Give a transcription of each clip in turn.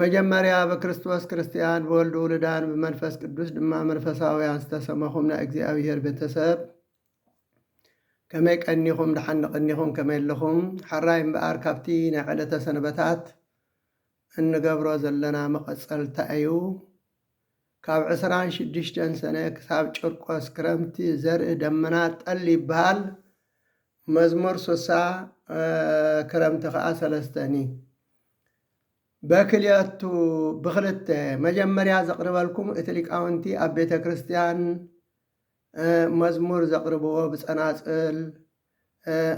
መጀመርያ ብክርስቶስ ክርስትያን ብወልዱ ውሉዳን ብመንፈስ ቅዱስ ድማ መንፈሳውያን ዝተሰመኹም ናይ እግዚኣብሔር ቤተሰብ ከመይ ቀኒኹም ደሓን ቐኒኹም ከመይ ኣለኹም ሐራይ እምበኣር ካብቲ ናይ ዕለተ ሰንበታት እንገብሮ ዘለና መቐጸልታ እዩ ካብ ዕስራን ሽዱሽተን ሰነ ክሳብ ጭርቆስ ክረምቲ ዘርኢ ደመና ጠል ይበሃል መዝሙር ሱሳ ክረምቲ ከኣ ሰለስተ ን በክልቱ ብክልተ መጀመርያ ዘቅርበልኩም እቲ ሊቃውንቲ ኣብ ቤተ ክርስትያን መዝሙር ዘቅርብዎ ብጸናጽል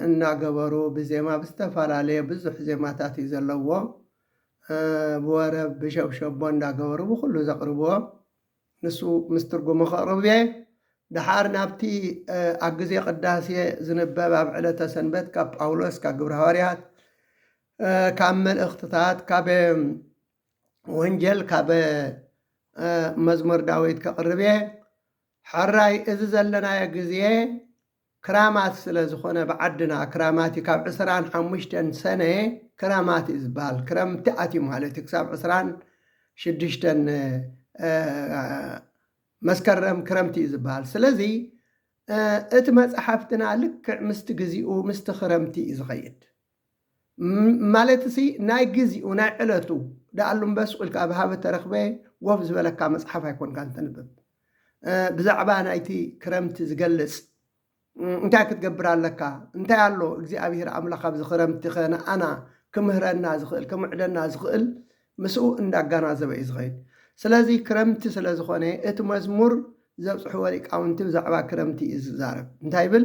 እናገበሩ ብዜማ ብዝተፈላለየ ብዙሕ ዜማታት እዩ ዘለዎ ብወረብ ብሸብሸቦ እንዳገበሩ ብኩሉ ዘቅርብዎ ንሱ ምስ ትርጉሙ ከቕርብ'የ። ደሓር ናብቲ ኣብ ግዜ ቅዳሴ ዝንበብ ኣብ ዕለተ ሰንበት ካብ ጳውሎስ ካብ ግብረ ሃዋርያት ካብ መልእኽትታት ካብ ወንጀል ካብ መዝሙር ዳዊት ከቕርብ'የ። ሐራይ እዚ ዘለናዮ ግዜ ክራማት ስለ ዝኾነ ብዓድና ክራማት እዩ ካብ ዕስራን ሓሙሽተን ሰነ ክራማት እዩ ዝባሃል ክረምቲ ኣትዩ ማለት እዩ ክሳብ ዕስራን ሽዱሽተን መስከረም ክረምቲ እዩ ዝባሃል ስለዚ እቲ መፃሕፍትና ልክዕ ምስቲ ግዚኡ ምስቲ ክረምቲ እዩ ዝኸይድ ማለትሲ ናይ ግዚኡ ናይ ዕለቱ ደኣሉ እምበ ሱቕ ኢልካ ኣብ ሃበ ተረኽበ ወፍ ዝበለካ መጽሓፍ ኣይኮንካን ተንብብ። ብዛዕባ ናይቲ ክረምቲ ዝገልጽ እንታይ ክትገብር ኣለካ? እንታይ ኣሎ እግዚኣብሄር ኣምላኽ ኣብዚ ክረምቲኸ ንኣና ክምህረና ዝኽእል ክምዕደና ዝኽእል ምስኡ እንዳጋናዘበ እዩ ዝኸይድ። ስለዚ ክረምቲ ስለ ዝኾነ እቲ መዝሙር ዘብጽሕዎ ሊቃውንቲ ብዛዕባ ክረምቲ እዩ ዝዛረብ። እንታይ ይብል?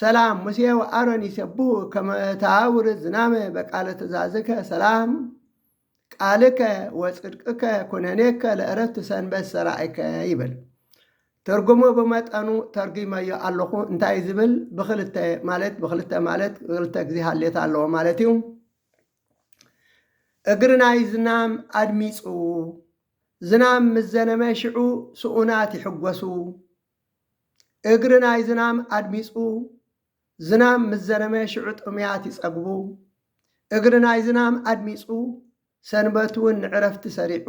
ሰላም ሙሴ ወኣሮን ይሴብሁ ከመ ተአውርድ ዝናመ በቃለ ትእዛዝከ ሰላም ቃልከ ወጽድቅከ ኩነኔከ ለእረፍት ሰንበት ሰራይከ ይብል። ትርጉሙ ብመጠኑ ተርጒመዮ ኣለኹ። እንታይ እዩ ዝብል? ብክልተ ማለት ብክልተ ማለት ክልተ ግዜ ሃሌታ ኣለዎ ማለት እዩ። እግሪ ናይ ዝናም ኣድሚፁ ዝናም ምስ ዘነመ ሽዑ ስኡናት ይሕጎሱ፣ እግሪ ናይ ዝናም ኣድሚጹ ዝናም ምስ ዘነመ ሽዑ ጥምያት ይጸግቡ። እግሪ ናይ ዝናም ኣድሚጹ ሰንበት እውን ንዕረፍቲ ሰሪዑ።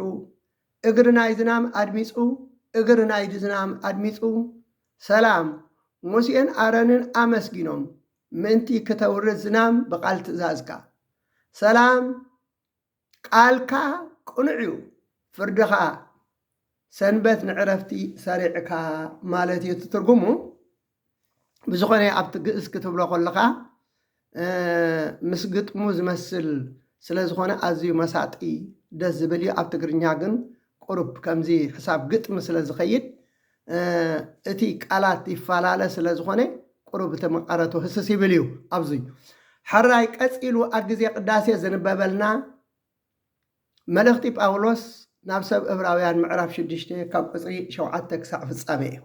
እግሪ ናይ ዝናም ኣድሚጹ እግሪ ናይ ዝናም ኣድሚጹ ሰላም ሙሴን ኣረንን ኣመስጊኖም ምእንቲ ክተውርድ ዝናም ብቓል ትእዛዝካ ሰላም ቃልካ ቅኑዕ እዩ ፍርድኻ ሰንበት ንዕረፍቲ ሰሪዕካ ማለት እዩ ትርጉሙ ብዝኾነ ኣብቲ ግእዝ ክትብሎ ከለኻ ምስ ግጥሙ ዝመስል ስለ ዝኾነ ኣዝዩ መሳጢ ደስ ዝብል እዩ ኣብ ትግርኛ ግን ቁሩብ ከምዚ ሕሳብ ግጥሚ ስለ ዝኸይድ እቲ ቃላት ይፈላለ ስለ ዝኾነ ቁሩብ እቲ መቐረቱ ህስስ ይብል እዩ ኣብዚ ሐራይ ቀጺሉ ኣብ ግዜ ቅዳሴ ዝንበበልና መልእኽቲ ጳውሎስ ናብ ሰብ እብራውያን ምዕራፍ ሽዱሽተ ካብ ቁፅሪ ሸውዓተ ክሳዕ ፍጻሜ እዩ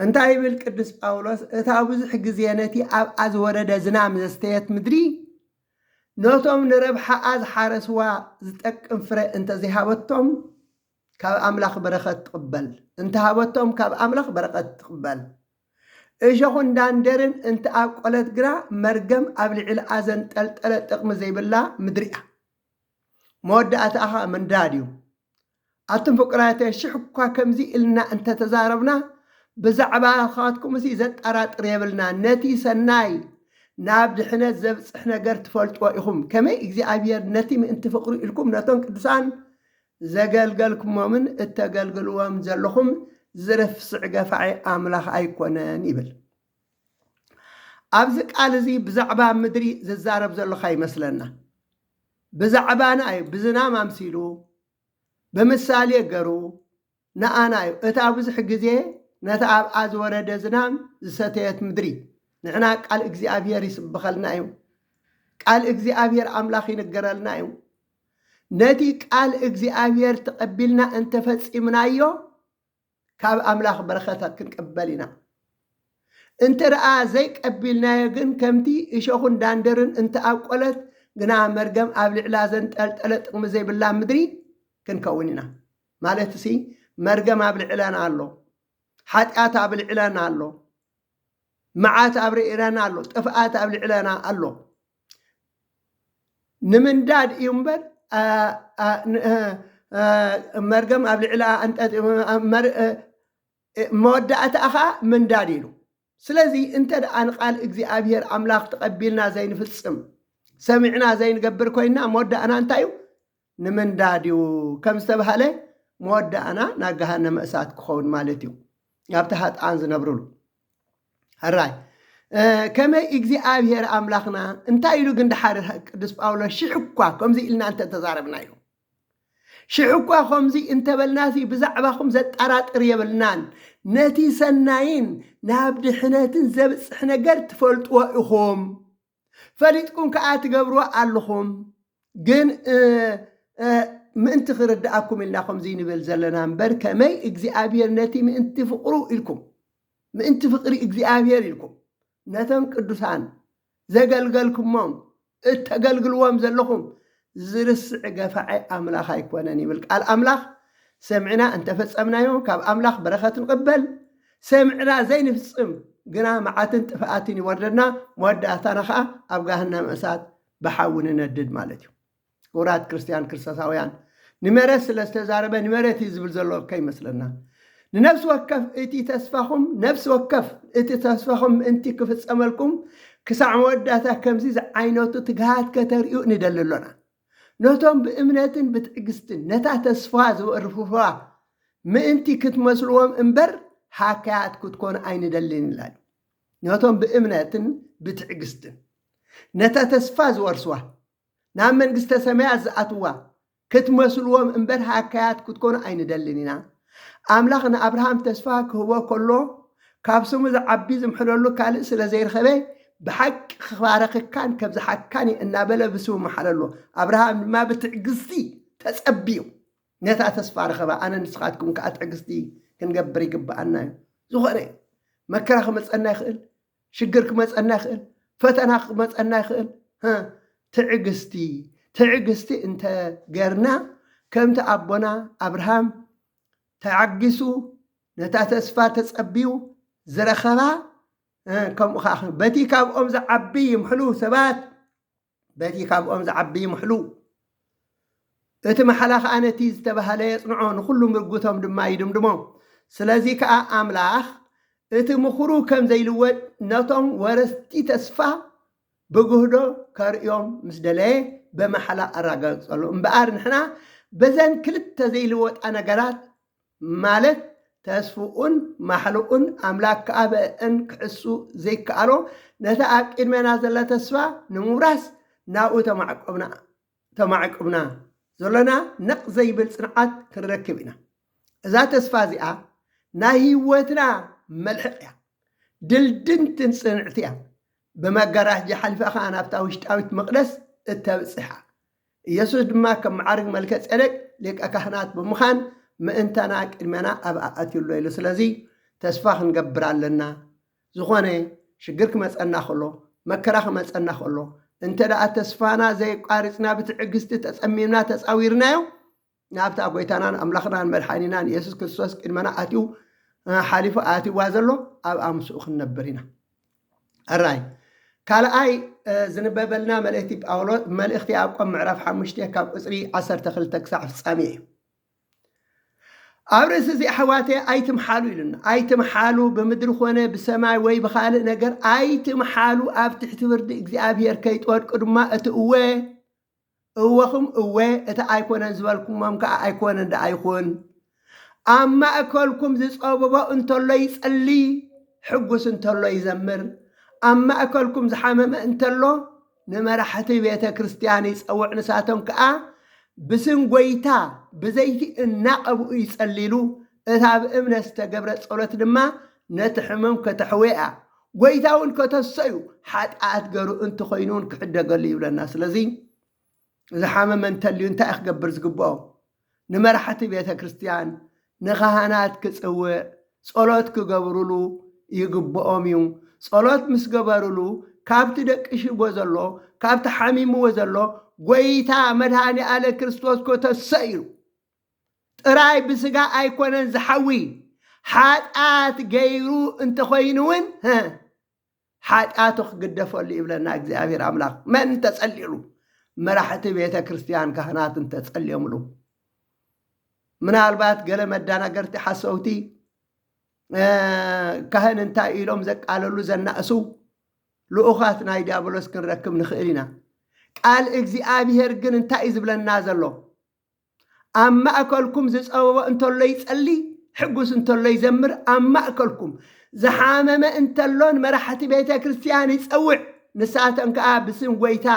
እንታይ ይብል ቅዱስ ጳውሎስ እታ ብዙሕ ግዜ ነቲ ኣብኣ ዝወረደ ዝናም ዘስተየት ምድሪ ነቶም ንረብሓኣ ዝሓረስዋ ዝጠቅም ፍረ እንተዘይሃበቶም ካብ ኣምላኽ በረኸት ትቕበል። እንተሃበቶም ካብ ኣምላኽ በረኸት ትቕበል። እሾኹን ዳንዴርን እንተኣብቆለት ግና መርገም ኣብ ልዕልኣ ዘንጠልጠለ ጥቕሚ ዘይብላ ምድሪ እያ። መወዳእታኣ ኸኣ ምንዳድ እዩ። ኣቱም ፍቁራተይ ሽሕ እኳ ከምዚ ኢልና እንተተዛረብና ብዛዕባኻትኩምሲ ዘጠራጥር የብልናን። ነቲ ሰናይ ናብ ድሕነት ዘብጽሕ ነገር ትፈልጥዎ ኢኹም። ከመይ እግዚኣብሄር ነቲ ምእንቲ ፍቕሩ ኢልኩም ነቶም ቅዱሳን ዘገልገልኩሞምን እተገልግልዎምን ዘለኹም ዝርፍስዕ ገፋዒ ኣምላኽ ኣይኰነን ይብል። ኣብዚ ቃል እዚ ብዛዕባ ምድሪ ዝዛረብ ዘሎካ ይመስለና። ብዛዕባና እዩ፣ ብዝናም ኣምሲሉ፣ ብምሳሌ ገሩ፣ ንኣና እዩ እታ ብዙሕ ግዜ ነታ ኣብኣ ዝወረደ ዝናም ዝሰተየት ምድሪ። ንሕና ቃል እግዚኣብሄር ይስብኸልና እዩ። ቃል እግዚኣብሄር ኣምላኽ ይንገረልና እዩ። ነቲ ቃል እግዚኣብሄር ተቐቢልና እንተፈጺምናዮ ካብ ኣምላኽ በረኸተ ክንቅበል ኢና። እንተ ደኣ ዘይቀቢልናዮ ግን ከምቲ እሾኹን ዳንደርን እንተኣብቆለት ግና መርገም ኣብ ልዕላ ዘንጠልጠለ ጥቕሚ ዘይብላ ምድሪ ክንከውን ኢና። ማለትሲ መርገም ኣብ ልዕለን ኣሎ፣ ሓጢኣት ኣብ ልዕለን ኣሎ፣ መዓት ኣብ ርእረን ኣሎ፣ ጥፍኣት ኣብ ልዕለና ኣሎ። ንምንዳድ እዩ እምበር መርገም ኣብ ልዕላ መወዳእታ ከዓ ምንዳድ ኢሉ ስለዚ እንተድኣ ንቃል እግዚኣብሄር ኣምላኽ ተቐቢልና ዘይንፍጽም፣ ሰሚዕና ዘይንገብር ኮይንና መወዳእና እንታይ እዩ? ንምንዳድ እዩ። ከም ዝተባህለ መወዳእና ናብ ገሃነመ እሳት ክኸውን ማለት እዩ። ናብቲ ሃጥኣን ዝነብሩሉ ሕራይ ከመይ እግዚኣብሄር ኣምላኽና እንታይ ኢሉ ግን ድሓር ቅዱስ ጳውሎስ ሽሕ እኳ ከምዚ ኢልና እንተተዛረብና ኢሉ ሽሕ'ኳ ከምዚ እንተበልናሲ ብዛዕባኹም ዘጣራጥር የብልናን፣ ነቲ ሰናይን ናብ ድሕነትን ዘብጽሕ ነገር ትፈልጥዎ ኢኹም፣ ፈሊጥኩም ከኣ ትገብርዎ ኣሎኹም፣ ግን እ ምእንቲ ክርድኣኩም ኢልና ከምዚ ንብል ዘለና እምበር ከመይ እግዚኣብሄር ነቲ ምእንቲ ፍቕሩ ኢልኩም ምእንቲ ፍቕሪ እግዚኣብሄር ኢልኩም ነቶም ቅዱሳን ዘገልገልኩሞም እተገልግልዎም ዘለኹም ዝርስዕ ገፋዒ ኣምላኽ ኣይኮነን ይብል ቃል ኣምላኽ። ሰሚዕና እንተ ፈጸምናዮ ካብ ኣምላኽ በረኸት ንቕበል፣ ሰሚዕና ዘይንፍጽም ግና መዓትን ጥፍኣትን ይወርደና፣ መወዳእታና ኸኣ ኣብ ገሃነመ እሳት ብሓዊ ንነድድ ማለት እዩ። ክቡራት ክርስትያን ክርስቶሳውያን፣ ንመሬት ስለ ዝተዛረበ ንመሬት እዩ ዝብል ዘሎ ከይመስለና። ንነፍሲ ወከፍ እቲ ተስፋኹም ነፍሲ ወከፍ እቲ ተስፋኹም ምእንቲ ክፍጸመልኩም ክሳዕ መወዳእታ ከምዚ ዝዓይነቱ ትግሃት ከተርእዩ ንደሊ ኣሎና። ነቶም ብእምነትን ብትዕግስትን ነታ ተስፋ ዝበርፍዋ ምእንቲ ክትመስልዎም እምበር ሃካያት ክትኮኑ ኣይንደልን ይላሉ። ነቶም ብእምነትን ብትዕግስትን ነታ ተስፋ ዝወርስዋ ናብ መንግስተ ሰማያት ዝኣትዋ ክትመስልዎም እምበር ሃካያት ክትኮኑ ኣይንደልን ኢና። ኣምላኽ ንኣብርሃም ተስፋ ክህቦ ከሎ ካብ ስሙ ዝዓቢ ዝምሕለሉ ካልእ ስለ ዘይረኸበ ብሓቂ ክባርኸካን ከብዝሓካን እየ እናበለ ብስሙ መሓለሎ። ኣብርሃም ድማ ብትዕግስቲ ተጸብዩ ነታ ተስፋ ረኸባ። ኣነ ንስኻትኩም ከኣ ትዕግስቲ ክንገብር ይግብኣና እዩ። ዝኾነ መከራ ክመጸና ይኽእል፣ ሽግር ክመፀና ይኽእል፣ ፈተና ክመፀና ይኽእል። ትዕግስቲ ትዕግስቲ እንተ ገርና ከምቲ ኣቦና ኣብርሃም ተዓጊሱ ነታ ተስፋ ተፀቢዩ ዝረኸባ ከምኡ ከዓ በቲ ካብኦም ዝዓቢ ይምሕሉ ሰባት በቲ ካብኦም ዝዓቢ ይምሕሉ፣ እቲ ማሕላ ኸኣ ነቲ ዝተባህለ የጽንዖ፣ ንዅሉ ምርጕቶም ድማ ይድምድሞ። ስለዚ ከኣ ኣምላኽ እቲ ምኽሩ ከም ዘይልወጥ ነቶም ወረስቲ ተስፋ ብግህዶ ከርእዮም ምስ ደለየ ብማሕላ ኣረጋገጸሎም። እምበኣር ንሕና በዘን ክልተ ዘይልወጣ ነገራት ማለት ተስፍኡን ማሕልኡን ኣምላክ ከኣ ብእእን ክሕሱ ዘይከኣሎ ነታ ኣብ ቂድሜና ዘላ ተስፋ ንምውራስ ናብኡ ተማዕቆብና ተማዕቁብና ዘሎና ነቕ ዘይብል ጽንዓት ክንረክብ ኢና። እዛ ተስፋ እዚኣ ናይ ህይወትና መልሕቕ እያ። ድልድንትን ጽንዕቲ እያ። ብመጋራጃ ሓሊፋ ከኣ ናብታ ውሽጣዊት መቕደስ እተብጽሓ። ኢየሱስ ድማ ከም መዓርግ መልከ ጼዴቅ ሊቀ ካህናት ብምዃን ምእንታና ቅድሜና ኣብ ኣኣትዩ ኣሎ ኢሉ ስለዚ ተስፋ ክንገብር ኣለና ዝኾነ ሽግር ክመጸና ከሎ መከራ ክመጸና ከሎ እንተ ተስፋና ዘየቛሪጽና ብትዕግስቲ ተጸሚምና ተጻዊርናዮ ናብታ ጎይታናን ኣምላኽናን መድሓኒናን የሱስ ክርስቶስ ቅድመና ኣትዩ ሓሊፉ ኣትይዋ ዘሎ ኣብኣ ምስኡ ክንነብር ኢና ኣራይ ካልኣይ ዝንበበልና መልእክቲ ጳውሎስ መልእክቲ ያዕቆብ ምዕራፍ ሓሙሽተ ካብ ቁፅሪ ዓሰርተ ክልተ ክሳዕ ፍጻሜ እዩ ኣብ ርእሲ እዚ ኣሕዋተ ኣይትምሓሉ ኢሉና ኣይትምሓሉ ብምድሪ ኮነ ብሰማይ ወይ ብካልእ ነገር ኣይትምሓሉ ኣብ ትሕቲ ፍርዲ እግዚኣብሄር ከይትወድቁ ድማ እቲ እወ እወኹም እወ፣ እቲ ኣይኮነን ዝበልኩሞም ከኣ ኣይኮነን ደኣ ይኹን። ኣብ ማእከልኩም ዝጸብቦ እንተሎ ይጸሊ፣ ሕጉስ እንተሎ ይዘምር፣ ኣብ ማእከልኩም ዝሓመመ እንተሎ ንመራሕቲ ቤተ ክርስቲያን ይጸውዕ ንሳቶም ከኣ ብስም ጎይታ ብዘይቲ እናቀብኡ ይጸልይሉ እታ ብእምነት ዝተገብረት ጸሎት ድማ ነቲ ሕሙም ከተሕውያ ጎይታ እውን ከተሰዩ ሓጥኣት ገሩ እንተኾይኑ እውን ክሕደገሉ ይብለና ስለዚ ዝሓመመ እንተልዩ እንታይ እዩ ክገብር ዝግብኦ ንመራሕቲ ቤተ ክርስቲያን ንኻህናት ክጽውዕ ጸሎት ክገብሩሉ ይግብኦም እዩ ጸሎት ምስ ገበሩሉ ካብቲ ደቅሽዎ ዘሎ ካብቲ ሓሚምዎ ዘሎ ጎይታ መድሃኒ ኣለ ክርስቶስ ከተሰዩ ጥራይ ብስጋ ኣይኮነን ዝሓዊ ሓጢኣት ገይሩ እንተኾይኑ እውን ሓጢኣቱ ክግደፈሉ ይብለና እግዚኣብሔር ኣምላኽ መን እንተጸሊሉ መራሕቲ ቤተ ክርስቲያን ካህናት እንተጸልዮምሉ ምናልባት ገለ መዳናገርቲ ሓሰውቲ ካህን እንታይ ኢሎም ዘቃለሉ ዘናእሱ ልኡኻት ናይ ዲያብሎስ ክንረክብ ንኽእል ኢና ቃል እግዚኣብሄር ግን እንታይ እዩ ዝብለና ዘሎ ኣብ ማእከልኩም ዝጸበቦ እንተሎ ይጸሊ፣ ሕጉስ እንተሎ ይዘምር፣ ኣብ ማእከልኩም ዝሓመመ እንተሎ ንመራሕቲ ቤተ ክርስቲያን ይጸውዕ፣ ንሳተን ከኣ ብስም ጐይታ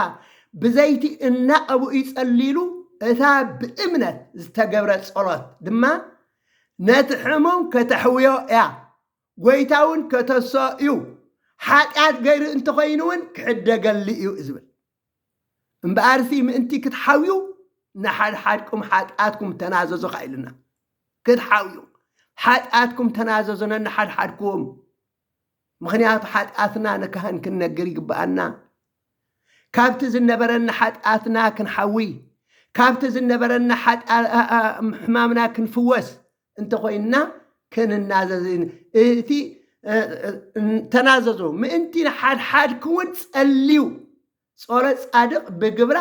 ብዘይቲ እናቐብኡ ይጸልይሉ፣ እታ ብእምነት ዝተገብረት ጸሎት ድማ ነቲ ሕሙም ከተሕውዮ እያ፣ ጐይታውን ከተሰኦ እዩ፣ ሓጢኣት ገይሩ እንተኾይኑውን ክሕደገሉ እዩ ዝብል። እምበኣርሲ ምእንቲ ክትሓውዩ ንሓድሓድኩም ሓጢኣትኩም ተናዘዙ ኸኣ ኢሉና። ክትሓውዩ ሓጢኣትኩም ተናዘዙ ነንሓድሓድኩም። ምኽንያቱ ሓጢኣትና ንካህን ክንነግር ይግብኣና። ካብቲ ዝነበረና ሓጢኣትና ክንሓዊ፣ ካብቲ ዝነበረና ሕማምና ክንፍወስ እንተኾይንና ክንናዘዝ እቲ ተናዘዙ ምእንቲ ንሓድሓድክውን ጸልዩ ጾረ ጻድቕ ብግብራ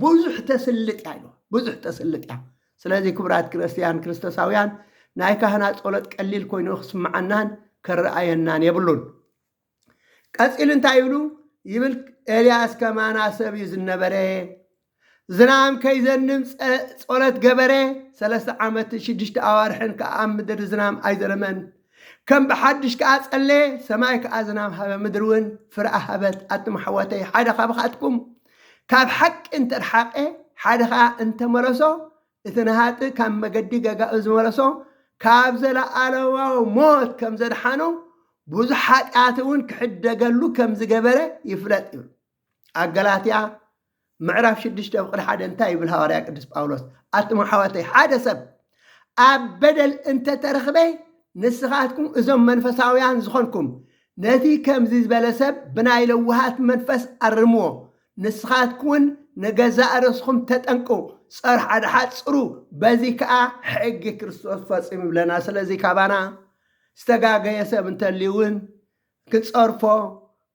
ብዙሕ ተስልጥ እያ ኢሉ ብዙሕ ተስልጥ እያ ስለዚ ክቡራት ክርስትያን ክርስቶሳውያን ናይ ካህናት ጸሎት ቀሊል ኮይኑ ክስምዓናን ከረኣየናን የብሉን ቀጺሉ እንታይ ይብሉ ይብል ኤልያስ ከማና ሰብ እዩ ዝነበረ ዝናም ከይዘንም ጸሎት ገበረ ሰለስተ ዓመትን ሽዱሽተ ኣዋርሕን ከኣ ኣብ ምድሪ ዝናም ኣይዘነመን ከም ብሓድሽ ከኣ ጸለየ ሰማይ ከኣ ዝናም ሃበ ምድሪ እውን ፍረ ኣሃበት ኣቱም ኣሕዋተይ ሓደ ካብኻትኩም ካብ ሓቂ እንተርሓቐ ሓደ ከኣ እንተመለሶ እቲ ንሃጥእ ካብ መገዲ ገጋኡ ዝመለሶ ካብ ዘለኣለማዊ ሞት ከም ዘድሓኖ ብዙሕ ሓጢኣት እውን ክሕደገሉ ከም ዝገበረ ይፍለጥ ይብሉ ኣብ ገላትያ ምዕራፍ ሽዱሽተ ፍቅዲ ሓደ እንታይ ይብል ሃዋርያ ቅዱስ ጳውሎስ ኣቱም ኣሕዋተይ ሓደ ሰብ ኣብ በደል እንተተረኽበ ንስኻትኩም እዞም መንፈሳውያን ዝኾንኩም ነቲ ከምዚ ዝበለ ሰብ ብናይ ለውሃት መንፈስ ኣርምዎ ንስኻትኩውን ንገዛእ ርእስኹም ተጠንቅቑ፣ ጸር ሓድሓድ ጽሩ፣ በዚ ከኣ ሕጊ ክርስቶስ ፈጽም ይብለና። ስለዚ ካባና ዝተጋገየ ሰብ እንተልዩውን ክንጸርፎ፣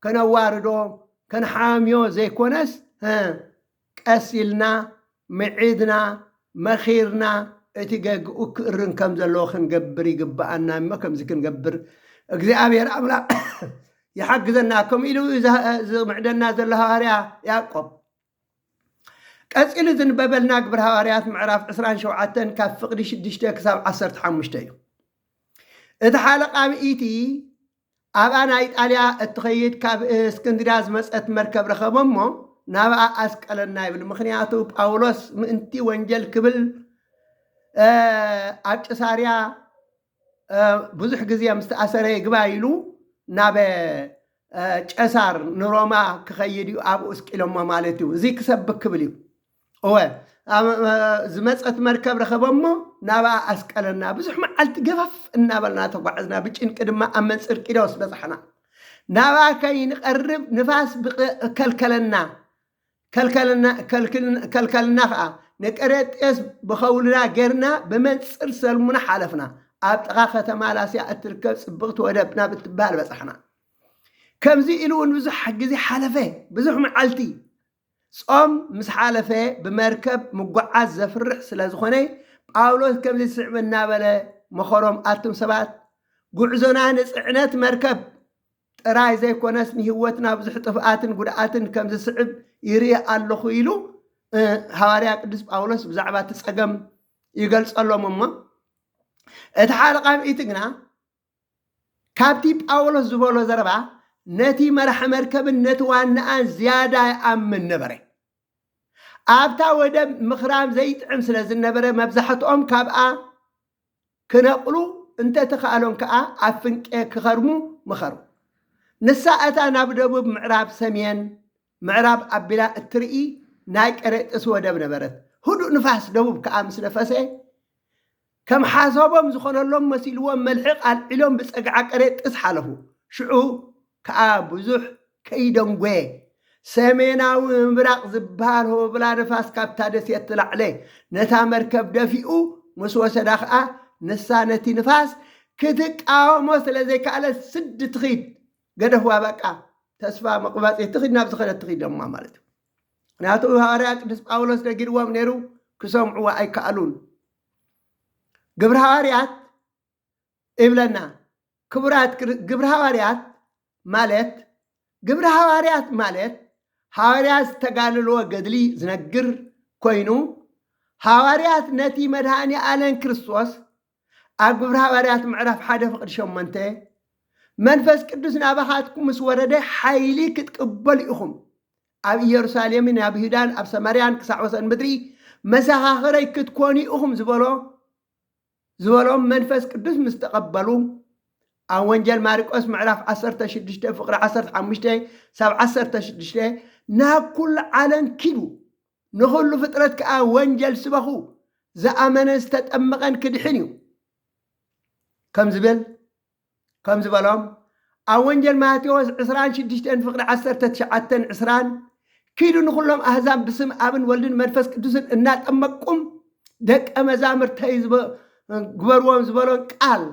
ከነዋርዶ፣ ከንሓምዮ ዘይኮነስ፣ እ፣ ቀስ ኢልና ምዒድና፣ መኺርና፣ እቲ ገግኡ ክእርም ከም ዘለዎ ክንገብር ይግብኣና እሞ ከምዚ ክንገብር እግዚኣብሔር ኣምላኽ ይሓግዘና ከምኡ ኢሉ እዩ ዝምዕደና ዘሎ ሃዋርያ ያዕቆብ። ቀጺሉ ዝንበበልና ግብሪ ሃዋርያት ምዕራፍ 27 ካብ ፍቕዲ 6 ክሳብ 15 እዩ። እቲ ሓለቓ ምኢቲ ኣብኣ ናይ ኢጣልያ እትኸይድ ካብ እስክንድርያ ዝመጸት መርከብ ረኸበ እሞ ናብኣ ኣስቀለና ይብል። ምኽንያቱ ጳውሎስ ምእንቲ ወንጀል ክብል ኣብ ቂሳርያ ብዙሕ ግዜ ምስ ተኣሰረ ይግባ ኢሉ ናብ ጨሳር ንሮማ ክኸይድ እዩ ኣብኡ እስቂሎሞ ማለት እዩ። እዚ ክሰብክ ክብል እዩ። እወ ዝመፀት መርከብ ረኸበሞ ናብኣ ኣስቀለና ብዙሕ መዓልቲ ገፈፍ እናበልና ተጓዕዝና ብጭንቂ ድማ ኣብ መንፅር ቂዶስ በፃሕና ናብኣ ከይንቐርብ ንፋስ ከልከለና ከልከልና ከዓ ንቀሬጤስ ብኸውልና ጌርና ብመንፅር ሰልሙና ሓለፍና ኣብ ጥቓ ከተማ ላስያ እትርከብ ፅብቕቲ ወደብ ናብ እትበሃል በፃሕና ከምዚ ኢሉ እውን ብዙሕ ግዜ ሓለፈ ብዙሕ መዓልቲ ጾም ምስ ሓለፈ ብመርከብ ምጉዓዝ ዘፍርሕ ስለ ዝኾነ ጳውሎስ ከምዚ ዝስዕብ እናበለ መኸሮም ኣቱም ሰባት ጉዕዞና ንጽዕነት መርከብ ጥራይ ዘይኮነስ ንህይወትና ብዙሕ ጥፍኣትን ጉድኣትን ከም ዝስዕብ ይርኢ ኣለኹ ኢሉ ሃዋርያ ቅዱስ ጳውሎስ ብዛዕባ እቲ ጸገም ይገልጸሎም እሞ እቲ ሓለቓ ምእቲ ግና ካብቲ ጳውሎስ ዝበሎ ዘረባ፣ ነቲ መራሒ መርከብን ነቲ ዋናኣን ዝያዳ ይኣምን ነበረ። ኣብታ ወደብ ምኽራም ዘይጥዕም ስለ ዝነበረ፣ መብዛሕትኦም ካብኣ ክነቕሉ እንተ ተኻእሎም ከኣ ኣብ ፍንቄ ክኸርሙ መኸሩ። ንሳ እታ ናብ ደቡብ ምዕራብ፣ ሰሜን ምዕራብ ኣቢላ እትርኢ ናይ ቀሬጥስ ወደብ ነበረት። ህዱእ ንፋስ ደቡብ ከኣ ምስ ነፈሰ፣ ከም ሓሳቦም ዝኾነሎም መሲልዎም መልሕቕ ኣልዒሎም ብጸግዓ ቀሬጥስ ሓለፉ። ሽዑ ከኣ ብዙሕ ከይደንጎየ ሰሜናዊ ምብራቕ ዝበሃል ሆብላ ንፋስ ካብታ ደሴት ዝለዓለ ነታ መርከብ ደፊኡ ምስ ወሰዳ ከኣ ንሳ ነቲ ንፋስ ክትቃወሞ ስለ ዘይከኣለት ስድ ትኺድ ገደፍዋ በቃ ተስፋ መቑባጺ ትኺድ ናብ ዝኸደት ትኺድ እማ ማለት እዩ። ምክንያቱ ሃዋርያ ቅዱስ ጳውሎስ ነጊርዎም ነይሩ ክሰምዕዎ ኣይከኣሉን ግብሪ ሃዋርያት ይብለና ክቡራት ግብሪ ሃዋርያት ማለት ግብሪ ሃዋርያት ማለት ሃዋርያ ዝተጋልልዎ ገድሊ ዝነግር ኮይኑ ሃዋርያት ነቲ መድሃኒ ኣለን ክርስቶስ ኣብ ግብሪ ሃዋርያት ምዕራፍ ሓደ ፍቕዲ ሸሞንተ መንፈስ ቅዱስ ናባኻትኩም ምስ ወረደ ሓይሊ ክትቅበሉ ኢኹም ኣብ ኢየሩሳሌምን ኣብ ይሁዳን ኣብ ሰማርያን ክሳዕ ወሰን ምድሪ መሰኻኽረይ ክትኮኑ ኢኹም ዝበሎ ዝበሎም መንፈስ ቅዱስ ምስ ተቐበሉ ኣብ ወንጀል ማርቆስ ምዕራፍ 16 ፍቕሪ 15 ሳብ 16 ናብ ኩሉ ዓለም ኪዱ ንኹሉ ፍጥረት ከኣ ወንጀል ስበኹ፣ ዝኣመነን ዝተጠምቐን ክድሕን እዩ ከም ዝብል ከም ዝበሎም ኣብ ወንጀል ማቴዎስ ዕስራን ሽዱሽተን ፍቕዲ ዓሰርተ ትሽዓተን ዕስራን ኪዱ ንኹሎም ኣህዛብ ብስም ኣብን ወልድን መንፈስ ቅዱስን እናጠመቅቁም ደቀ መዛምርተይ ግበርዎም ዝበሎን ቃል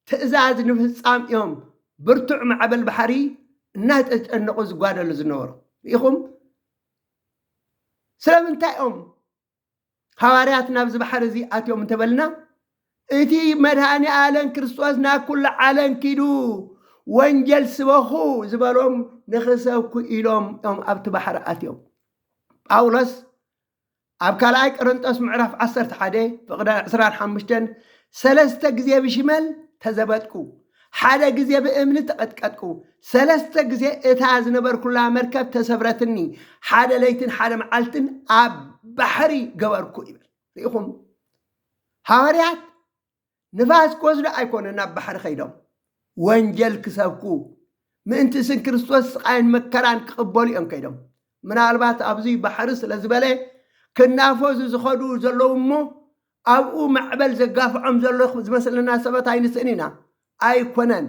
ትእዛዝ ንምፍፃም እዮም ብርቱዕ ማዕበል ባሕሪ እናተጨነቑ ዝጓደሉ ዝነበሩ። ርኢኹም? ስለምንታይ እዮም ሃዋርያት ናብዚ ባሕሪ እዚ ኣትዮም እንተበልና እቲ መድሃኒ ኣለም ክርስቶስ ናብ ኩሉ ዓለም ኪዱ ወንጀል ስበኹ ዝበሎም ንኽሰብኩ ኢሎም እዮም ኣብቲ ባሕሪ ኣትዮም ጳውሎስ ኣብ ካልኣይ ቀረንጦስ ምዕራፍ ዓሰርተ ሓደ ፍቕደ ዕስራን ሓሙሽተን ሰለስተ ግዜ ብሽመል ተዘበጥኩ፣ ሓደ ግዜ ብእምኒ ተቐጥቀጥኩ፣ ሰለስተ ግዜ እታ ዝነበርኩላ መርከብ ተሰብረትኒ፣ ሓደ ለይትን ሓደ መዓልትን ኣብ ባሕሪ ገበርኩ ይብል። ርኢኹም፣ ሃዋርያት ንፋስ ክወስዱ ኣይኮነን ናብ ባሕሪ ከይዶም፣ ወንጀል ክሰብኩ፣ ምእንቲ ስም ክርስቶስ ስቓይን መከራን ክቕበሉ እዮም ከይዶም። ምናልባት ኣብዚ ባሕሪ ስለ ዝበለ ክናፈዙ ዝኸዱ ዘለዉ እሞ ኣብኡ ማዕበል ዘጋፍዖም ዘሎ ዝመስለና ሰባት ኣይንስእን ኢና። ኣይኮነን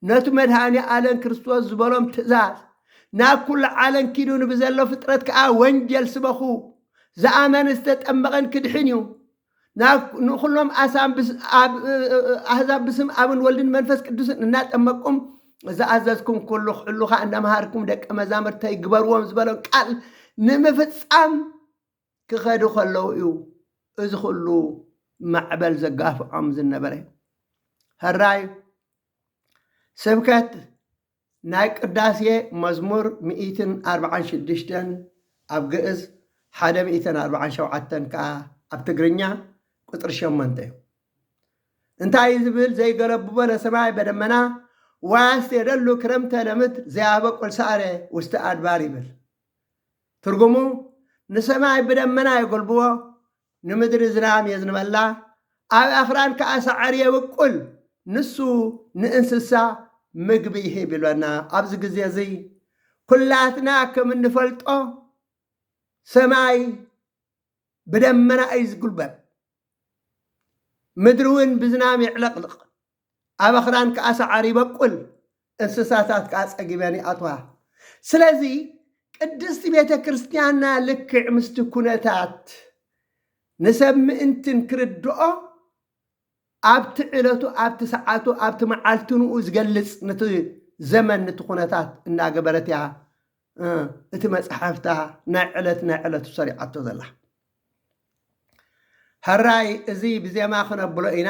ነቱ መድኃኔ ኣለም ክርስቶስ ዝበሎም ትእዛዝ ናብ ኩሉ ዓለም ኪዱ ንብዘሎ ፍጥረት ከኣ ወንጀል ስበኹ ዝኣመነ ዝተጠመቐን ክድሕን እዩ ንኹሎም ኣሕዛብ ብስም ኣብን ወልድን መንፈስ ቅዱስን እናጠመቅኩም ዝኣዘዝኩም ኩሉ ክሕሉ ከኣ እናመሃርኩም ደቀ መዛምርተይ ግበርዎም ዝበሎም ቃል ንምፍጻም ክኸዱ ከለዉ እዩ እዚ ኹሉ ማዕበል ዘጋፍዖም ዝነበረ። ሀራይ ስብከት ናይ ቅዳሴ መዝሙር ሚእትን ኣርብዓን ሽዱሽተን ኣብ ግእዝ ሓደ ሚእትን ኣርብዓን ሸውዓተን ከኣ ኣብ ትግርኛ ቁጽሪ ሸሞንተ እዩ። እንታይ እዩ ዝብል ዘይገለብቦ ለሰማይ በደመና ወያስቴደሉ ክረምተ ለምድር ዘያበቁል ሳዕረ ውስተ ኣድባር ይብል። ትርጉሙ፣ ንሰማይ ብደመና የጐልብቦ፣ ንምድሪ ዝናም የዝንበላ፣ ኣብ ኣኽራን ከኣ ሳዕሪ የብቍል፣ ንሱ ንእንስሳ ምግቢ ይህብ ኢሎና። ኣብዚ ግዜ እዚ ኵላትና ከም እንፈልጦ ሰማይ ብደመና እዩ ዝጕልበብ፣ ምድሪ እውን ብዝናም የዕለቕልቕ። ኣብ ኣኽራን ከኣ ሰዓር ይበቁል፣ እንስሳታት ከኣ ጸጊበን ይኣትዋ። ስለዚ ቅድስቲ ቤተ ክርስቲያንና ልክዕ ምስቲ ኩነታት ንሰብ ምእንትን ክርድኦ ኣብቲ ዕለቱ ኣብቲ ሰዓቱ ኣብቲ መዓልትንኡ ዝገልጽ ንቲ ዘመን ንቲ ኩነታት እናገበረት እያ እቲ መጽሓፍታ ናይ ዕለት ናይ ዕለቱ ሰሪዓቶ ዘላ። ሕራይ እዚ ብዜማ ክነብሎ ኢና።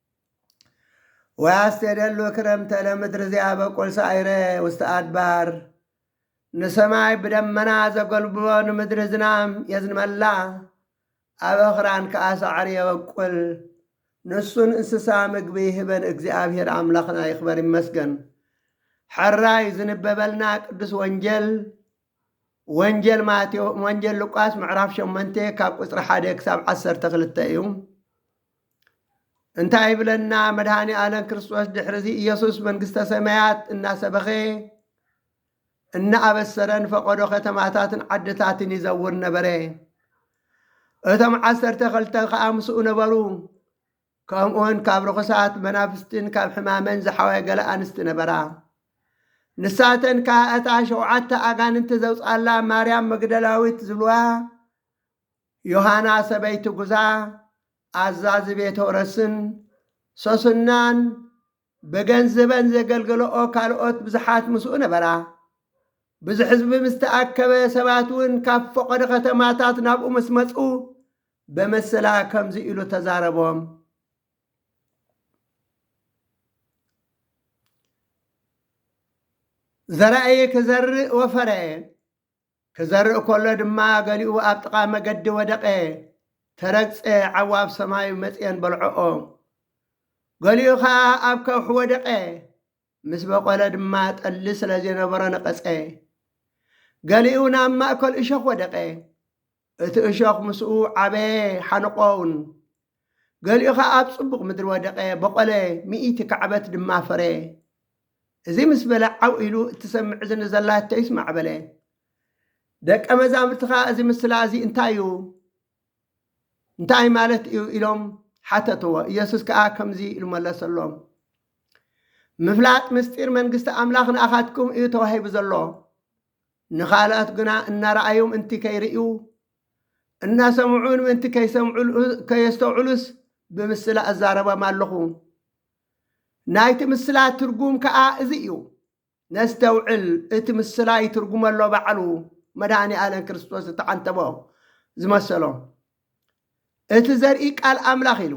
ወያስቴደሉ ክረምተ ለምድር ዘያበቁል ሳይረ ውስተ አድባር ንሰማይ ብደመና ዘጎልብቦ ንምድሪ ዝናም የዝንመላ አበኽራን ከዓ ሳዕሪ የበቁል ንሱን እንስሳ ምግቢ ይህበን እግዚኣብሔር አምላኽና ይኽበር ይመስገን ሐራይ ዝንበበልና ቅዱስ ወንጌል ወንጌል ማቴዎ ወንጌል ሉቃስ ምዕራፍ ሸመንቴ ካብ ቁፅሪ ሓደ ክሳብ ዓሰርተ ክልተ እዩ እንታይ ይብለና መድኃኔ ዓለም ክርስቶስ ድሕርዚ ኢየሱስ መንግሥተ ሰማያት እናሰበኸ እናኣበሰረን ፈቐዶ ከተማታትን ዓድታትን ይዘውር ነበረ። እቶም ዓሰርተ ኸልተ ከዓ ምስኡ ነበሩ። ከምኡውን ካብ ርኹሳት መናፍስትን ካብ ሕማመን ዝሓወ ገለ ኣንስቲ ነበራ። ንሳተን ከዓ እታ ሸውዓተ ኣጋንንቲ ዘውፅኣላ ማርያም መግደላዊት ዝብልዋ ዮሃና ሰበይቲ ጉዛ ኣዛዚ ቤተውረስን ሶስናን ብገንዝበን ዘገልገለኦ ካልኦት ብዙሓት ምስኡ ነበራ። ብዙሕ ህዝቢ ምስ ተኣከበ ሰባት እውን ካብ ፈቐዶ ከተማታት ናብኡ ምስ መጹ በመሰላ ከምዚ ኢሉ ተዛረቦም። ዘራእየ ክዘርእ ወፈረ፣ ክዘርእ ከሎ ድማ ገሊኡ ኣብ ጥቓ መገዲ ወደቐ፣ ተረግጸ፣ ዓዉ ኣብ ሰማዩ መጽየን በልዖኦ። ገሊኡ ኸኣ ኣብ ከውሒ ወደቐ፣ ምስ በቖለ ድማ ጠሊ ስለ ዘይነበሮ ነቐጸ። ገሊኡ ናብ ማእከል እሾኽ ወደቐ። እቲ እሾኽ ምስኡ ዓበየ፣ ሓንቖ'ውን። ገሊኡ ኸኣ ኣብ ጽቡቕ ምድሪ ወደቐ፣ በቖለ፣ ሚእቲ ካዕበት ድማ ፈረየ። እዚ ምስ በለ፣ ዓው ኢሉ፣ እትሰምዕ እዝኒ ዘላቶ ይስማዕ በለ። ደቀ መዛሙርቲ ኸኣ እዚ ምስላ እዚ እንታይ እዩ? እንታይ ማለት እዩ? ኢሎም ሓተትዎ። ኢየሱስ ከኣ ከምዚ ኢሉ መለሰሎም፣ ምፍላጥ ምስጢር መንግስቲ ኣምላኽ ንኣኻትኩም እዩ ተዋሂቡ ዘሎ፣ ንኻልኣት ግና እናረኣዩ ምእንቲ ከይርእዩ፣ እናሰምዑ'ውን ምእንቲ ከይሰምዑ፣ ከየስተውዕሉስ ብምስላ እዛረቦም ኣለኹ። ናይቲ ምስላ ትርጉም ከኣ እዚ እዩ። ነስተውዕል፣ እቲ ምስላ ይትርጉሞ ኣሎ ባዕሉ መድኃኔዓለም ክርስቶስ ዝተዓንተቦ ዝመሰሎ። እቲ ዘርኢ ቃል ኣምላኽ ኢሉ፣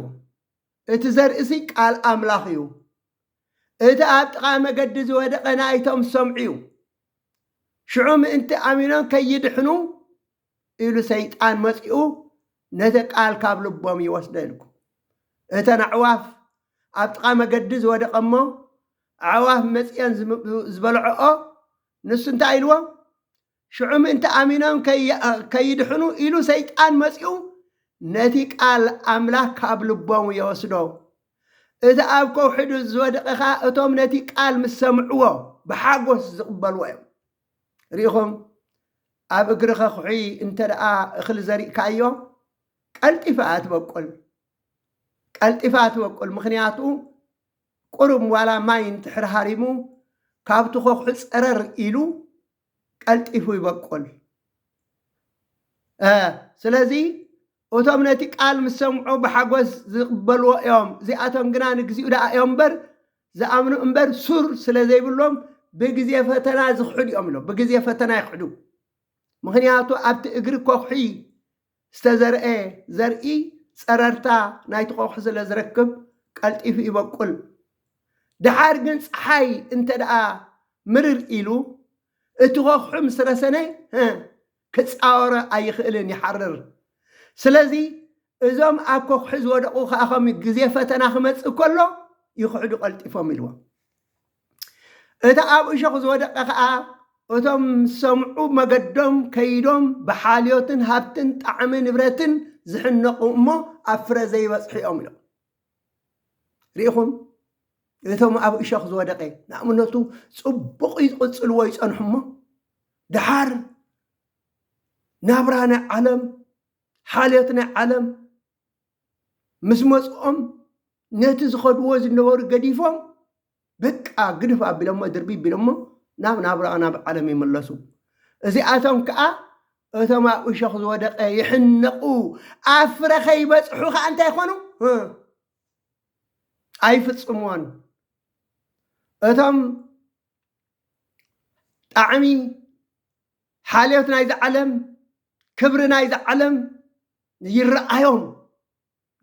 እቲ ዘርእሲ ቃል ኣምላኽ እዩ። እቲ ኣብ ጥቓ መገዲ ዝወደቐ ናይቶም ዝሰምዑ እዩ። ሽዑ ምእንቲ ኣሚኖም ከይድሕኑ ኢሉ ሰይጣን መጺኡ ነቲ ቃል ካብ ልቦም ይወስደ ኢልኩ። እተን ኣዕዋፍ ኣብ ጥቓ መገዲ ዝወደቐ እሞ ኣዕዋፍ መጺኦን ዝበልዖኦ ንሱ እንታይ ኢልዎ? ሽዑ ምእንቲ ኣሚኖም ከይድሕኑ ኢሉ ሰይጣን መጺኡ ነቲ ቃል ኣምላኽ ካብ ልቦም የወስዶ። እቲ ኣብ ከውሒ ዝወደቐ ኸኣ እቶም ነቲ ቃል ምስ ሰምዕዎ ብሓጎስ ዝቕበልዎ እዮም። ርኢኹም፣ ኣብ እግሪ ከኹሒ እንተ ደኣ እኽሊ ዘሪእካዮ ቀልጢፋ እያ ትበቁል። ቀልጢፋ ትበቁል ምኽንያቱ ቁሩብ ዋላ ማይ እንድሕር ሃሪሙ ካብቲ ከኹሒ ጸረር ኢሉ ቀልጢፉ ይበቁል። ስለዚ እቶም ነቲ ቃል ምስ ሰምዑ ብሓጎስ ዝቕበልዎ እዮም፣ እዚኣቶም ግና ንግዚኡ ደኣ እዮም እምበር ዝኣምኑ እምበር ሱር ስለ ዘይብሎም ብግዜ ፈተና ዝኽሕዱ እዮም ኢሎ። ብግዜ ፈተና ይኽሕዱ። ምኽንያቱ ኣብቲ እግሪ ኮዅሒ ዝተዘርኤ ዘርኢ ጸረርታ ናይቲ ቆቕሒ ስለ ዝረክብ ቀልጢፉ ይበቁል። ደሓር ግን ጸሓይ እንተደኣ ምርር ኢሉ እቲ ቆቕሑ ምስ ረሰነ ክጻወሮ ኣይኽእልን ይሓርር። ስለዚ እዞም ኣብ ቆቕሒ ዝወደቑ ከኣ ከምኡ ግዜ ፈተና ክመጽእ ከሎ ይኽሕዱ ቀልጢፎም ኢልዎም። እቲ ኣብ እሾኽ ዝወደቀ ከኣ እቶም ምስ ሰምዑ መገዶም ከይዶም ብሓልዮትን ሃብትን ጣዕሚ ንብረትን ዝሕነቁ እሞ ኣብ ፍረ ዘይበጽሑ እዮም ኢሎም። ርኢኹም እቶም ኣብ እሾኽ ዝወደቀ ንኣብነቱ ጽቡቕ ይቕጽልዎ ይጸንሑ እሞ ደሓር ናብራ ናይ ዓለም ሓልዮት ናይ ዓለም ምስ መፅኦም ነቲ ዝኸድዎ ዝነበሩ ገዲፎም በቃ ግድፍ ኣቢሎሞ ድርቢ ቢሎሞ ናብ ናብራኦ ናብ ዓለም ይምለሱ። እዚኣቶም ከዓ እቶም ኣብ እሾኽ ዝወደቀ ይሕነቁ ኣብ ፍረ ከይበፅሑ ከዓ እንታይ ይኾኑ ኣይፍፅሙዎን። እቶም ጣዕሚ ሓልዮት ናይዚ ዓለም፣ ክብሪ ናይዚ ዓለም ይረኣዮም፣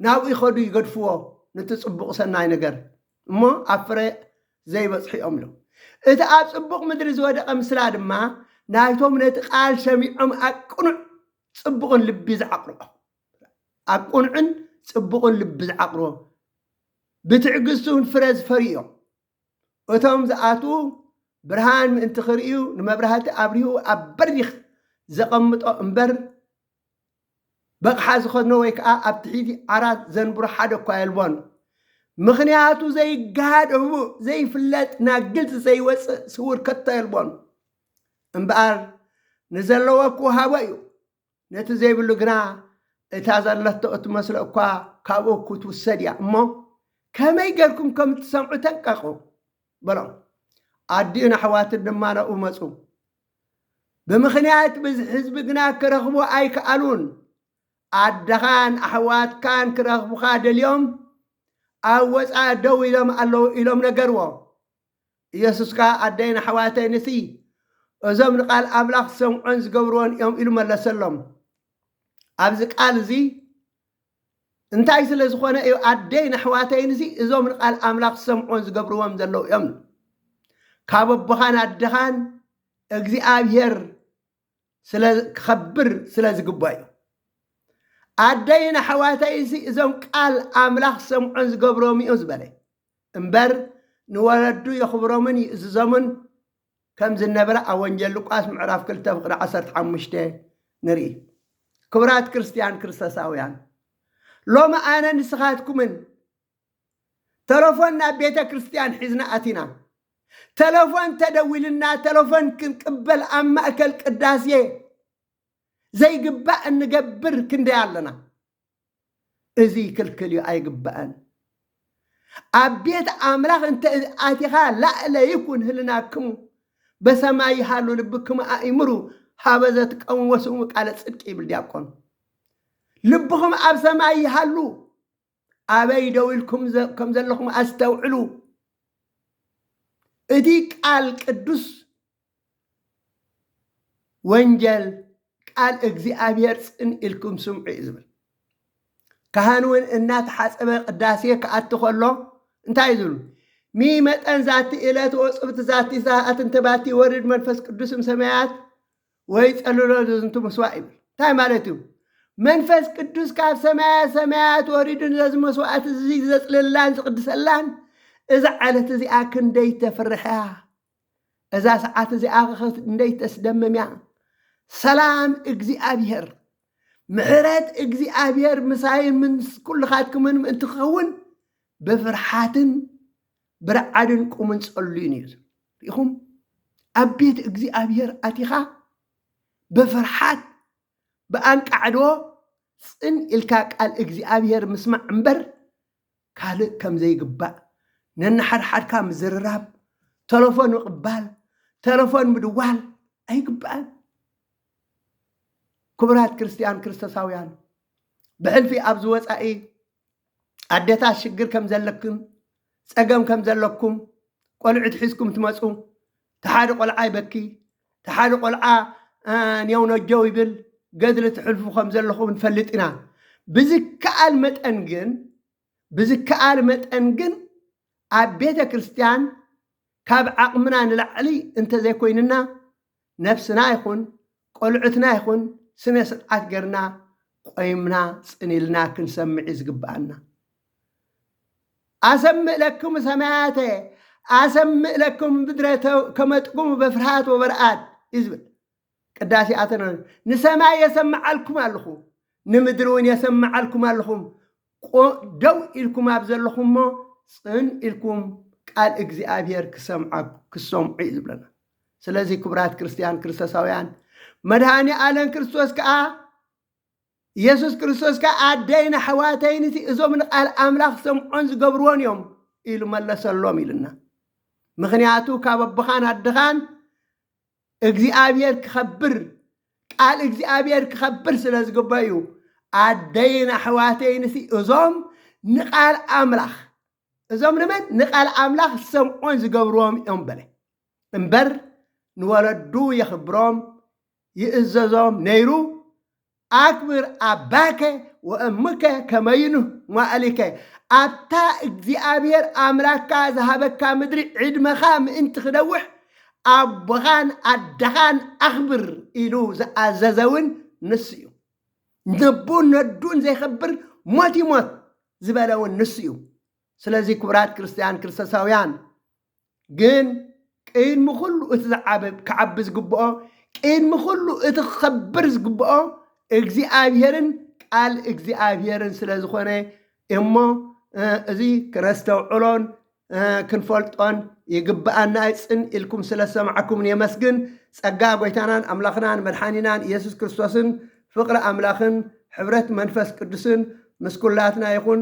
ናብኡ ይኸዱ ይገድፍዎ ንቲ ጽቡቕ ሰናይ ነገር፣ እሞ ኣብ ፍረ ዘይበጽሑ እዮም ኢሉ። እቲ ኣብ ጽቡቕ ምድሪ ዝወደቐ ምስላ ድማ ናይቶም ነቲ ቃል ሰሚዖም ኣብ ቅኑዕ ጽቡቕን ልቢ ዝዓቕርኦ ኣብ ቅኑዕን ጽቡቕን ልቢ ዝዓቕርዎ ብትዕግስቱን ፍረ ዝፈርዩ እዮም። እቶም ዝኣትዉ ብርሃን ምእንቲ ክርእዩ ንመብራህቲ ኣብሪሁ ኣብ በሪኽ ዘቐምጦ እምበር በቕሓ ዝኸድኖ ወይ ከዓ ኣብ ትሒቲ ዓራት ዘንብሮ ሓደ እኳ የልቦን። ምኽንያቱ ዘይገሃድ ህቡእ ዘይፍለጥ ናብ ግልፂ ዘይወፅእ ስውር ከቶ የልቦን። እምበኣር ንዘለዎ ክወሃቦ እዩ። ነቲ ዘይብሉ ግና እታ ዘለቶ እትመስሎ እኳ ካብኡ ክትውሰድ እያ እሞ ከመይ ጌርኩም ከም እትሰምዑ ተንቀቑ በሎም። ኣዲኡን ኣሕዋቱን ድማ ናብኡ መጹ። ብምኽንያት ብዝሒ ህዝቢ ግና ክረኽብዎ ኣይከኣሉን። ኣደኻን ኣሕዋትካን ክረኽቡኻ ደልዮም ኣብ ወጻኢ ደው ኢሎም ኣለዉ ኢሎም ነገርዎ። ኢየሱስ ከኣ ኣደይን ኣሕዋተይንሲ እዞም ንቃል ኣምላኽ ዝሰምዑን ዝገብርዎን እዮም ኢሉ መለሰሎም። ኣብዚ ቃል እዚ እንታይ ስለ ዝኾነ እዩ ኣደይን ኣሕዋተይንሲ እዞም ንቃል ኣምላኽ ዝሰምዑን ዝገብርዎም ዘለዉ እዮም ካብ ኣቦኻን ኣደኻን እግዚኣብሔር ስለ ክኸብር ስለ ዝግባ እዩ ኣደይን ኣሕዋተይንሲ እዞም ቃል ኣምላኽ ዝሰምዑን ዝገብርዎም እዮም ዝበለ እምበር ንወለዱ የኽብሮምን ይእዝዞምን ከም ዝነበረ ኣብ ወንጌል ሉቃስ ምዕራፍ ክልተ ፍቕዲ ዓሰርተ ሓሙሽተ ንርኢ። ክብራት ክርስትያን ክርስቶሳውያን ሎሚ ኣነ ንስኻትኩምን ተለፎን ናብ ቤተ ክርስትያን ሒዝና ኣቲና ተለፎን ተደዊልና ተለፎን ክንቅበል ኣብ ማእከል ቅዳሴ ዘይግባእ እንገብር ክንደይ ኣለና። እዙይ ክልክል እዩ ኣይግባእን ኣብ ቤት ኣምላኽ እንተ ኣቲኻ ላእለ ይኩን ህልናክሙ በሰማይ ይሃሉ ልብክሙ ኣእምሩ ሃበ ዘትቀሙ ወስሙ ቃለ ጽድቂ ይብል ዲያቆን ልብኹም ኣብ ሰማይ ይሃሉ ኣበይ ደው ኢልኩም ከም ዘለኹም ኣስተውዕሉ እቲ ቃል ቅዱስ ወንጀል ቃል እግዚኣብሔር ጽን ኢልኩም ስምዑ እዩ ዝብል ካህን እውን እናተሓፀበ ቅዳሴ ክኣቲ ከሎ እንታይ እዩ ዝብሉ ሚመጠን ዛቲ እለት ወጽብት ዛቲ ሰዓት እንተባቲ ወርድ መንፈስ ቅዱስም ሰማያት ወይ ጸልሎ ዝንቱ መስዋዕ ይብል እንታይ ማለት እዩ መንፈስ ቅዱስ ካብ ሰማያ ሰማያት ወሪዱን ዘዚ መስዋዕት እዚ ዘጽልላን ዝቕድሰላን እዛ ዓለት እዚኣ ክንደይ ተፍርሕያ እዛ ሰዓት እዚኣ ክንደይ ተስደምም እያ። ሰላም እግዚኣብሔር ምሕረት እግዚኣብሔር ምሳይን ምስ ኩልኻትኩምን ምእንቲ ክኸውን ብፍርሓትን ብርዓድን ቁምን ጸልዩን እዩ ሪኢኹም ኣብ ቤት እግዚኣብሔር ኣቲኻ ብፍርሓት ብኣንቃዕዶ ጽን ኢልካ ቃል እግዚኣብሔር ምስማዕ እምበር ካልእ ከም ዘይግባእ፣ ነንሓድሓድካ ምዝርራብ፣ ተለፎን ምቕባል፣ ተለፎን ምድዋል ኣይግባእን። ክቡራት ክርስትያን ክርስቶሳውያን፣ ብሕልፊ ኣብዚ ወጻኢ ኣደታት ሽግር ከም ዘለክን ጸገም ከም ዘለኩም ቆልዑት ሒዝኩም ትመጹ እቲ ሓደ ቆልዓ ይበኪ፣ እቲ ሓደ ቆልዓ ኔው ነጀው ይብል፣ ገድሊ ትሕልፉ ከም ዘለኹም ንፈልጥ ኢና። ብዝከኣል መጠን ግን ብዝከኣል መጠን ግን ኣብ ቤተ ክርስቲያን ካብ ዓቕምና ንላዕሊ እንተዘይኮይንና ነፍስና ይኹን ቆልዑትና ይኹን ስነ ስርዓት ገርና ቆይምና ጽን ኢልና ክንሰምዕ እዩ ዝግብኣና። ኣሰምእ ለክሙ ሰማያተ ኣሰምእ ለክሙ ምድረ ከመጥቁሙ በፍርሃት ወበርኣት እዩ ዝብል ቅዳሴ ኣተነ ንሰማይ የሰምዓልኩም ኣለኹ ንምድሪ እውን የሰምዓልኩም ኣለኹም ቁ ደው ኢልኩም ኣብ ዘለኹሞ ጽን ኢልኩም ቃል እግዚኣብሔር ክሰምዓ ክሰምዑ እዩ ዝብለና ስለዚ ክብራት ክርስትያን ክርስቶሳውያን መድሃኒ ኣለን ክርስቶስ ከኣ ኢየሱስ ክርስቶስ ከኣ ኣደይን ኣሕዋተይን እቲ እዞም ንቃል ኣምላኽ ሰምዖን ዝገብርዎን እዮም ኢሉ መለሰሎም ኢልና ምክንያቱ ካብ ኣቦኻን ኣድኻን እግዚኣብሔር ክኸብር ቃል እግዚኣብሔር ክኸብር ስለ ዝግበ እዩ ኣደይን ኣሕዋተይን ሲ እዞም ንቃል ኣምላኽ እዞም ንመን ንቃል ኣምላኽ ዝሰምዑን ዝገብርዎም እዮም በለ እምበር ንወለዱ የኽብሮም ይእዘዞም ነይሩ ኣክብር ኣባከ ወእምከ ከመ ይኑህ መዋእሊከ ኣብታ እግዚኣብሔር ኣምላክካ ዝሃበካ ምድሪ ዕድመኻ ምእንቲ ክነውሕ ኣቦኻን ኣደኻን ኣኽብር ኢሉ ዝኣዘዘ እውን ንሱ እዩ። ነቡን ነዱን ዘይኸብር ሞት ይሞት ዝበለ እውን ንሱ እዩ። ስለዚ ክቡራት ክርስትያን ክርስቶሳውያን ግን ቅድሚ ኩሉ እቲ ዝዓበ ክዓቢ ዝግብኦ ቅድሚ ኩሉ እቲ ክኸብር ዝግብኦ እግዚኣብሔርን ቃል እግዚኣብሔርን ስለ ዝኾነ እሞ እዚ ክነስተውዕሎን ክንፈልጦን ይግብኣና እዩ። ጽን ኢልኩም ስለ ዝሰማዕኩምን የመስግን። ጸጋ ጎይታናን ኣምላኽናን መድሓኒናን ኢየሱስ ክርስቶስን ፍቕሪ ኣምላኽን ሕብረት መንፈስ ቅዱስን ምስ ኩላትና ይኹን።